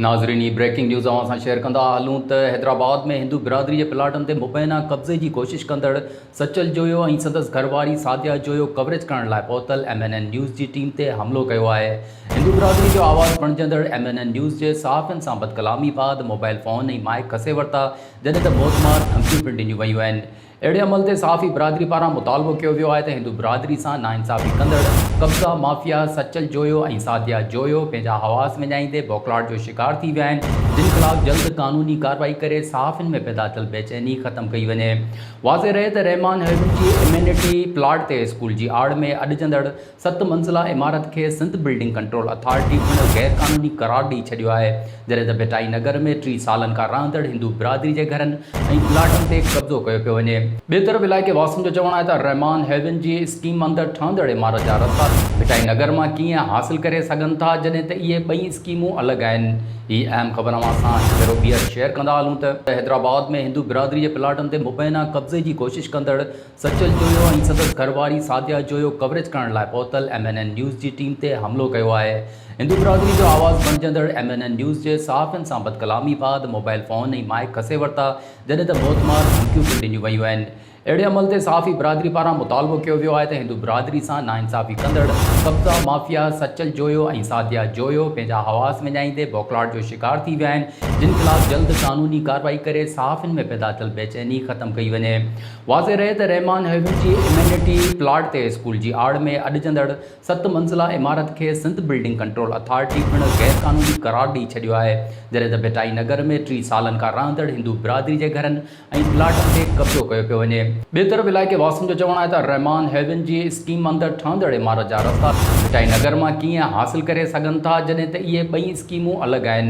ناظرين هي breaking news اوهان سان شيئر ڪندا هلون ته حيدرآباد ۾ هندو برادري جي پلاٽن تي مبينا قبضي جي ڪوشش ڪندڙ سچل جويو ۽ سندس گهر واري سعديه جويو ڪوريج ڪرڻ لاء پهتل ايم اين اين نيوز جي ٽيم تي حملو ڪيو آهي هندو برادري جو آواز بڻجندڙ ايم اين اين نيوز جي صحافين سان بدڪلامي بعد موبائل فون ۽ مائيڪ کسي ورتا جڏهن ته موت مار ڌمڪيون پڻ ڏنيون ويون آهن اهڙي عمل تي صحافي برادري پاران مطالبو ڪيو ويو آهي ته هندو برادري سان ناانصافي ڪندڙ قبضا مافيا سچل جويو ۽ ساڌيا جويو پنهنجا حواس وڃائيندي بوکلاٽ جو شڪار ٿي ويا آهن جن خلاف جلد قانوني ڪارروائي ڪري صحافين ۾ پيدا ٿيل بيچيني ختم ڪئي وڃي واضح رهي ته رحمان هيڊو جي امينٽي پلاٽ تي اسڪول جي آڙ ۾ اڏجندڙ ست منزله عمارت کي سنڌ بلڊنگ ڪنٽرول اٿارٽي پڻ غيرقانوني قرار ڏئي ڇڏيو آهي، جڏهن ته ڀٽائي نگر ۾ ٽي سالن کان رهندڙ هندو برادري جي گهرن ۽ پلاٽن تي قبضو ڪيو پيو وڃي. ٻئي طرف علائقي واسين جو چوڻ آهي ته رحمان هيون جي اسڪيم اندر ٺهندڙ عمارت جا رستا ڀٽائي نگر مان ڪيئن حاصل ڪري سگهن ٿا جڏهن ته اهي ٻئي اسڪيمون الڳ آهن. هي اهم خبر اوهان سان هڪ ڀيرو ٻيهر شيئر ڪندا هلون ته حيدرآباد ۾ هندو برادري جي پلاٽن تي مبينا قبضي جي ڪوشش ڪندڙ، سچل جويو ۽ سندس گهر واري سعديه جويو ڪوريج ڪرڻ لاء پهتل ايم اين اين نيوز جي ٽيم تي حملو ڪيو آهي. هندو برادري جو آواز بڻجندڙ ايم اين اين نيوز جي صحافين سان بدڪلامي بعد موبائل فون ۽ مائيڪ کسي ورتا جڏهن ته موتمار ڌمڪيون پڻ ڏنيون ويون آهن. اهڙي عمل تي صحافي برادري پاران مطالبو ڪيو ويو آهي ته هندو برادري سان ناانصافي ڪندڙ قبضا مافيا سچل جويو ۽ سعديه جويو پنهنجا حواس وڃائيندي بوکلاهٽ جو شڪار ٿي ويا آهن جن خلاف جلد قانوني ڪارروائي ڪري صحافين ۾ پيدا ٿيل بيچيني ختم ڪئي وڃي. واضح رهي ته رحمان هيوز جي امينٽي پلاٽ تي اسڪول جي آڙ ۾ اڏجندڙ ست منزله عمارت کي سنڌ بلڊنگ ڪنٽرول اٿارٽي پڻ غير قانوني قرار ڏئي ڇڏيو آهي جڏهن ته ڀٽائي نگر ۾ ٽي سالن کان رهندڙ هندو برادري جي گهرن ۽ پلاٽن تي قبضو ڪيو پيو وڃي. ٻئي طرف علائقي واسين جو چوڻ آهي ته رحمان هيوز جي اسڪيم اندر ٺهندڙ عمارت جا رستا ڀٽائي نگر مان ڪيئن حاصل ڪري سگهن ٿا جڏهن ته اهي ٻئي اسڪيمون الڳ آهن.